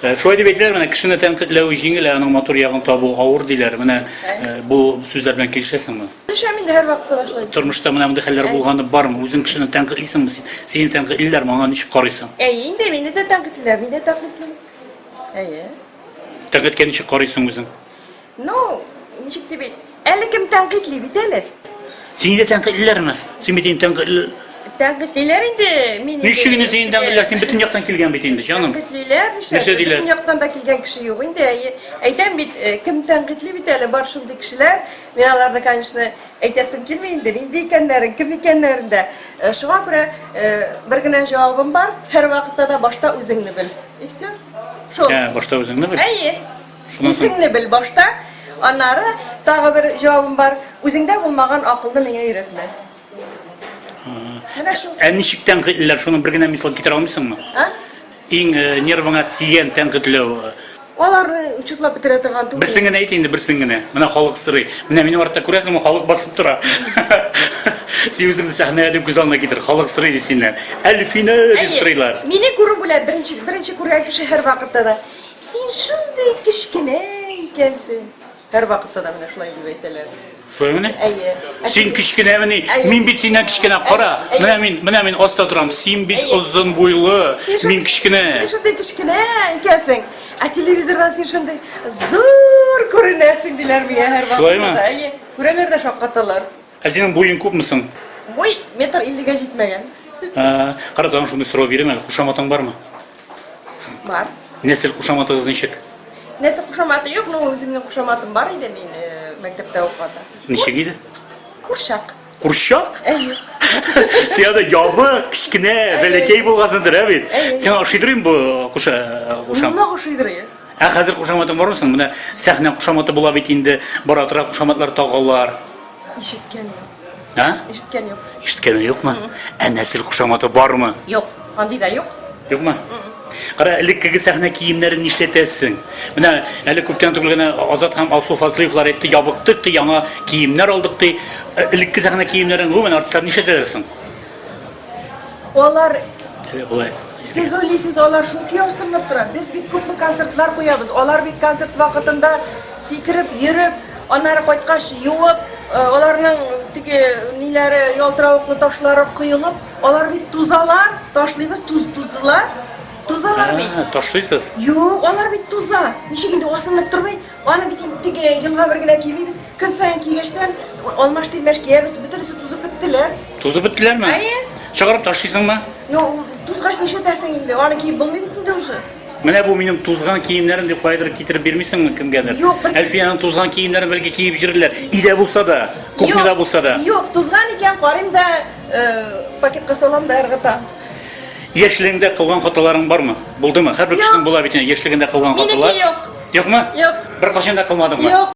Э, шулай дип әйтәләр, менә кешене тәнкыйтьләү җиңел, ә аның матур ягын табу авыр диләр. Менә э, бу сүзләр белән килешәсеңме? Килешәм инде һәрвакыт шулай. Тормышта менә мондый хәлләр булганы бармы? Үзең кешене тәнкыйтьлисеңме? Сине тәнкыйтьлиләрме? Аңа ничек карыйсың? Әй, инде мине дә тәнкыйтьлиләр, мин дә тәнкыйтьлим. Әйе. Тәнкыйтькә ничек карыйсың үзең? Ну, ничек дип әйт? Әле кем тәнкыйтьли бит әле? Сине дә тәнкыйтьлиләрме? Син бит инде тәнкыйтьле. Тәнкыйтьлиләр инде, мин инде. Ничек инде сине тәнкыйтьлиләр? Син бөтен яктан килгән бит инде, җаным. Тәнкыйтьлиләр, нишләп? Нәрсә диләр? Бөтен яктан да килгән кеше юк инде. Әйтәм бит, э, кем тәнкыйтьли бит әле, бар шундый кешеләр. Мин аларны, конечно, әйтәсем килми инде, нинди икәннәрен, кем икәннәрен дә. Э, шуңа күрә э, бер генә җавабым бар, һәрвакытта да башта үзеңне бел. И все. Шул. Ә, башта үзеңне бел. Әйе. Исеңне бел башта, аннары тагы бер җавабым бар, үзеңдә булмаган акылны миңа өйрәтмә. Менә шул. Ә ничек тәнкыйтьләр, шуның бер генә мисал китерә алмыйсыңмы? А? Иң э, нервыңа тигән тәнкыйтьләү. э, Аларны учетлап бетерә торган түгел. Берсен генә әйт инде, берсен генә. Менә халык сорый. Менә минем артта күрәсеңме, халык басып тора. Син үзеңне сәхнәгә дип күз алдына китер. Халык сорый ди синнән. Әлфинә дип Әйе, сорыйлар. Мине күрү белән беренче беренче күргән кеше һәрвакытта да. Син шундый кечкенә икәнсең. Һәрвакытта да менә шулай дип әйтәләр. Шулаймыни? Әйе. Ә Син кечкенәмени? Әйе. Мин бит синнән кечкенә. Кара, Әйе. менә мин, менә мин аста торам. Син бит Әйе. озын буйлы, Син шундый- мин кечкенә. Син шундый кечкенә икәнсең. Ә телевизордан син шундый зур күренәсең диләр миңа һәрвакытта. Шулаймы? да. Әйе. Күрәләр дә шаккаталар. Ә синең буең күпме соң? Буй метр иллегә җитмәгән. Ә, Кара тагын шундый сорау бирәм әле. Кушаматың бармы? Бар. Нәсел кушаматыгыз ничек? Нәсел кушаматы юк, но үземнең кушаматым бар иде мин э, мәктәптә укыганда. Ничек иде? Курчак. Курчак? Әйе. Син анда ябык, кечкенә, бәләкәй булгансыңдыр, ә бит? Әйе. Сиңа ошыйдыр инде бу куша кушам. Нык ошыйдыр. Ә хәзер кушаматың бармы соң? Менә сәхнә кушаматы була бит инде, бара-тора кушаматлар тагалар. Ишеткән юк. Ә? Ишеткән юк. Ишеткәне юкмы? Ә нәсел кушаматы бармы? Юк. Андый да юк. Юкмы? Кара, элеккеге сәхнә киемнәрен нишләтәсең? Менә әле күптән түгел генә Азат һәм Алсу Фазлыевлар әйтте, ябыктык ди, яңа киемнәр алдык ди. Э, Элекке сәхнә киемнәрен гомумән артистлар нишләтәләр соң? Алар Болай. Сез уйлыйсыз, алар шундый ясынып тора. Без бит күпме концертлар куябыз. Алар бит концерт вакытында сикереп, йөреп, аннары кайткач юып, э, аларның теге ниләре ялтыравыклы ташлары коелып, алар бит тузалар, ташлыйбыз, туз туздылар. Тузалар бит. Ә, Ташлыйсыз. Юк, алар бит туза. Ничек инде асылынып тормый? Аны бит инде теге елга бер генә кимибез. Көн саен кигәчтән алмаш-тилмәш киябез, бөтенесе тузып беттеләр. Тузып беттеләрме? Әйе. Чыгарып ташлыйсыңмы? Ну, тузгач нишләтәсең инде? Аны киеп булмый бит инде уже. Менә бу минем тузган киемнәрем дип кайдыр китереп бирмисеңме кемгәдер? Юк, бер... Әлфиянең тузган киемнәрен бәлки киеп җирләр. Идә булса да, кухняда булса да. Юк, тузган икән, карыйм да, э, пакетка салам да ыргыта. Яшьлегеңдә кылган хаталарың бармы? Булдымы? Һәрбер кешенең була бит инде яшьлегендә кылган хаталар. Минеке юк. Юкмы? Юк. Бер кашын да кылмадыңмы? Юк.